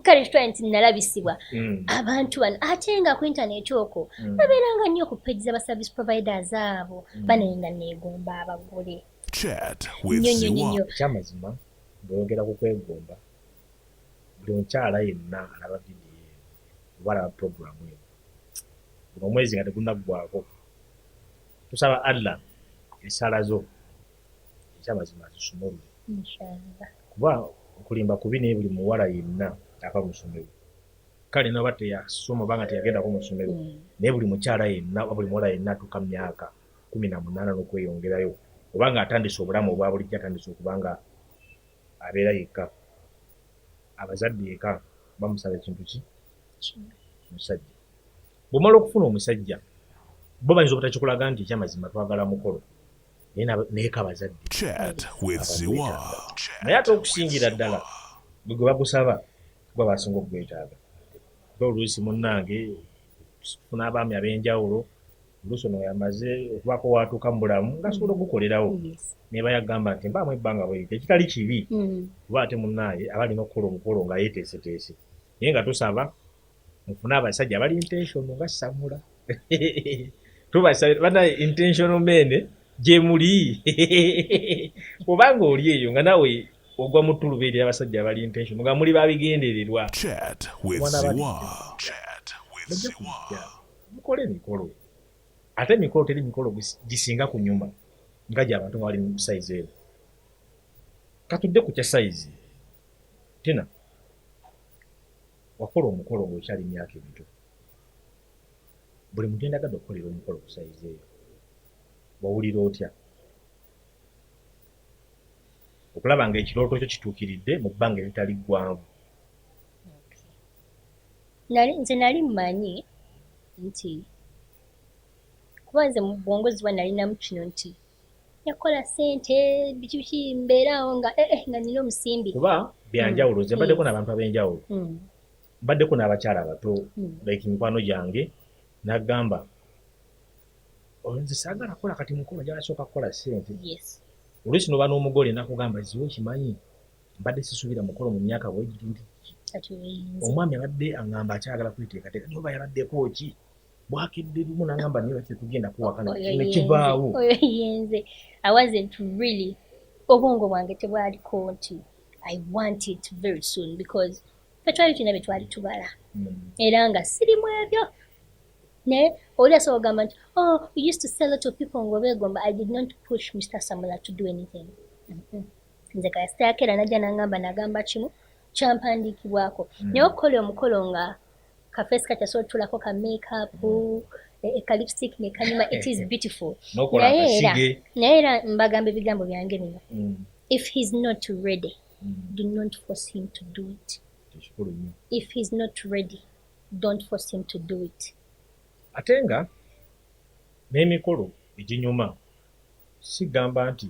kale kitwale nti nalabisibwa mm. abantu bano ate nga ku intaneti okwo mm. babeeranga nnyo ku page za baservice providers abo mm. banaye nga neegomba abagule nyonyonyonyo ekyamazima bweyogera ku kwegomba buli omukyala yenna alaba vidiyo eno oba alaba puroguramu eno guno omwezi nga tegunaggwako tusaba allah esaala zo ekyamazima azisumulule kuba okulimba kubi naye buli muwala yenna ava mu ssomero kale naba teyasoma obanga teyagendako mu ssomero mm. naye buli mukyala yenna oba buli muwala yenna atuuka mu myaka kumi na munaana n'okweyongerayo obanga atandise obulamu obwa bulijjo atandise okubanga abeera yekka abazadde eka bamusaba ekintu ki omusajja bwomala okufuna omusajja bo bayinza obutakikulaga nti ekyamazima twagala mukolo naye kabazadde naye ate okusingira ddala bwe gwe bagusaba kuba basinga okugwetaaga ba oluusi munnange funa abaami ab'enjawulo oluusi ono yamaze okubaako waatuuka mu bulamu ngasobola okugukolerawo naye bayagamba nti mbaamu ebbanga bweyita ekitali kibi mm. kuba ate munnaaye aba alina okukola omukolo nga yeeteeseteese naye nga tusaba mufune abasajja abali intentional nga samula tubasabira banaye intentional men gyemuli obanga oli eyo nga nawe ogwa mu ttuluba eri abasajja abali intention nga muli babigendererwa mukole emikolo ate emikolo teri mikolo gisinga ku nyuma nga gyabantu nga bali mu sayizi ero katudde ku kya sayizi tina Wakola omukolo nga okyali myaka emito. Buli muntu yendagadde okukolera omukolo ku sayizi eyo wawulira otya? Okulaba nga ekirooto kyo kituukiridde mu bbanga eritali ggwanvu. Nali nze nali mmanyi nti kuba nze mu bwongo ziba nalinamu kino nti yakola sente biki biki mbeera awo nga eh, eh, nga nina omusimbi kuba byanjawulo nze mbaddeko n'abantu ab'enjawulo mm. mbaddeko n'abakyala abato mm. like mikwano gyange nagamba oh, nze saagala kukola kati mukolo njala sooka kukola sente oluusi noba n'omugole nakugamba ziwe okimanyi mbadde sisuubira mukolo mu myaka bwegiti nti omwami abadde angamba akyagala kweteekateeka noba yabaddeko ki bwakedde lumu nangamba naye lwaki tetugenda kuwakana nekivaawo oyo yenze i wasn't really obwongo bwange tebwaliko nti i want it very soon because fe twali tulina bye twali tubala hmm. era nga sirimu ebyo naye oli asobola ogamba nti oh you used to sell lot of people ngaobeegomba i did not push mr samula to do anything mm-hmm. nze kasitayakeera najja nangamba nagamba kimu kyampandiikibwako hmm. naye okukola omukolo nga ka face ka kyasobola tulako ka makeup mm. eh, eh, ka lipstick ne kanyuma it is beautiful naye era naye era mbagamba ebigambo byange bino mm. if he's not ready mm. do not force him to do it if he's not ready don't force him to do it ate nga n'emikolo eginyuma sigamba nti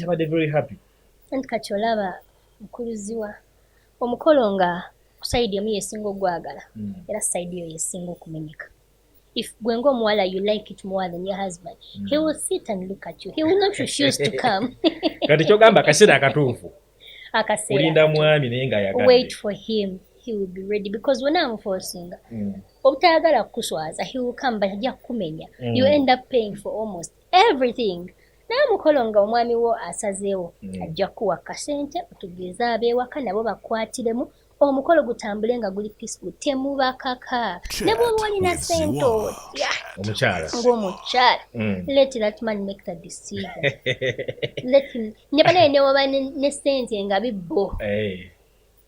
yabadde very happy anti kati olaba mukuluziwa omukolo nga kusaidi emu yesinga ogwagala mm. era saidi eyo yesinga okumenyeka if gwe ngaomuwala you like it more than your husband mm. he will sit and look at you he will not refuse to come kati kyogamba akaseera akatuufu akaseeraolinda mwami naye nga yaga wait for him he will be ready because wena amufosinga mm. obutayagala kukuswaza he will come but ajja kukumenya mm. you end up paying for almost everything naye mukolo nga omwami wo asazeewo mm. ajja kukuwa kasente otugeeza abeewaka nabo bakwatiremu omukolo gutambule nga guli pisigu temubakaka ne bwoba olina sente otya ngaomukyala mm. let that man make the decision ne banaye newaba ne sente nga bibbo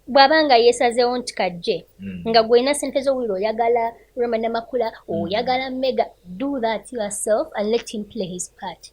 bw'aba nga yeesazeewo nti kajje hmm. nga gwolina sente z'owulira oyagala rema namakula hmm. oyagala mega do that yourself and let him play his part